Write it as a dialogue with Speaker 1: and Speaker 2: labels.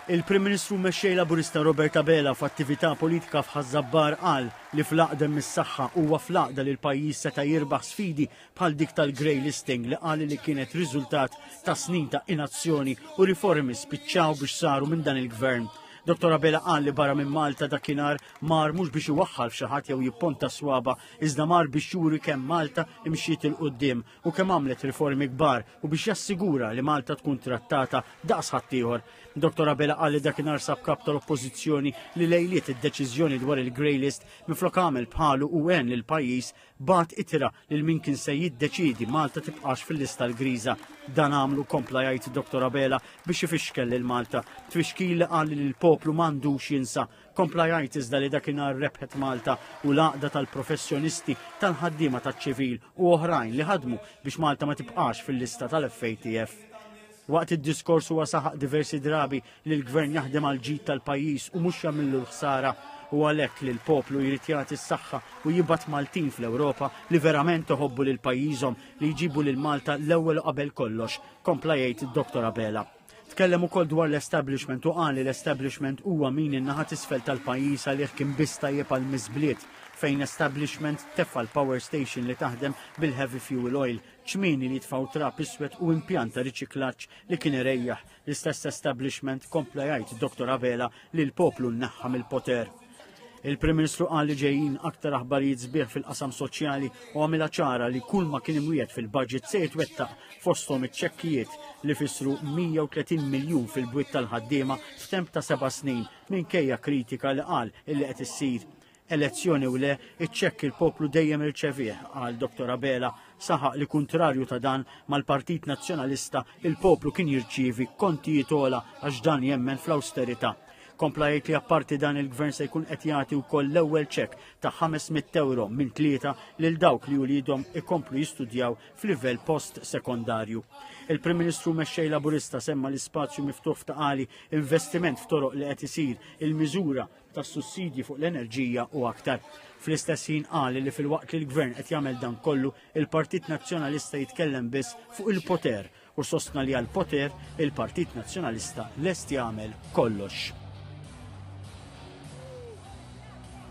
Speaker 1: Il-Prim Ministru Mexxej Laburista Robert Abela f'attività politika f'Ħaż-Żabbar qal li fl-Għaqda hemm is-saħħa, huwa fl-Għaqda li l-pajjiż seta' jirbaħ sfidi bħal dik tal-grey listing li qal li kienet riżultat ta' snin ta' inazzjoni u riformi spiċċaw biex saru minn dan il-Gvern. Dottor Abela qal li barra minn Malta dakinhar mar mhux biex iwaħħal f'xi ħadd jew jipponta swaba, iżda mar biex juri kemm Malta imxiet 'il quddiem u kemm għamlet riformi kbar u biex jassigura li Malta tkun trattata daqs ħaddieħor. Dr. Abela qal li dakinhar sab kap tal-Oppożizzjoni li lejliet id-deċiżjoni dwar il-Grey List minflok għamel bħalu u għen lil pajjiż bat itira lil min kien se jiddeċidi Malta tibqax fil-lista l-griża. Dan għamlu kompla jgħid Dr. Abela biex ifixkel lil Malta. Twixkil li qal li l-poplu m'għandux jinsa Kompla jgħid iżda li dakinhar rebħet Malta u l-għaqda tal-professjonisti tal-ħaddiema taċ-ċivil u oħrajn li ħadmu biex Malta ma tibqax fil-lista tal-FATF. Waqt id-diskors huwa saħaq diversi drabi li l-gvern jaħdem għal ġid tal-pajjiż u mhux jagħmillu l-ħsara u għalhekk li l-poplu jrid jagħti s-saħħa u jibgħat Maltin fl-Ewropa li verament iħobbu lil pajjiżhom li jġibu lil Malta l-ewwel qabel kollox, kompla jgħid id-Dottor Abela. Tkellem ukoll dwar l-establishment u qal li l-establishment huwa min in-naħa tisfel tal-pajjiż għalih kien biss tajjeb għal miżbliet fejn establishment tefa' l-power station li taħdem bil-heavy fuel oil, ċmieni li jitfaw trap iswed u impjant ta' riċiklaġġ li kien irejjaħ. L-istess establishment kompla jgħid Dr. Abela li l-poplu nneħħa mill-poter. Il-Prim Ministru qal li ġejjin aktar aħbarijiet sbieħ fil-qasam soċjali u għamilha ċara li kull ma kien imwiet fil-budget se jitwettaq fosthom iċ-ċekkijiet li fissru 130 miljun fil-bwiet tal-ħaddiema f'temp ta' seba' snin minkejja kritika li qal illi qed issir elezzjoni u le iċ-ċekk il-poplu dejjem irċevih għal Dr. Abela saħaq li kuntrarju ta' dan mal-Partit Nazzjonalista il-poplu kien jirċievi kontijiet ola għax dan jemmen fl-austerità Kompla jgħid li apparti dan il-Gvern se jkun qed jagħti wkoll l-ewwel ċek ta' 500 euro minn tlieta lil dawk li uliedhom ikomplu jistudjaw f'livell post sekondarju. Il-Prim Ministru mexxej Laburista semma l-ispazju miftuħ f'taqali investiment f'toroq li qed isir il-miżura ta' sussidji fuq l-enerġija u aktar. Fl-istess ħin qal li fil-waqt li l-Gvern qed jagħmel dan kollu, il-Partit Nazzjonalista jitkellem biss fuq il-poter u sostna li għall-poter il-Partit Nazzjonalista lest jagħmel kollox.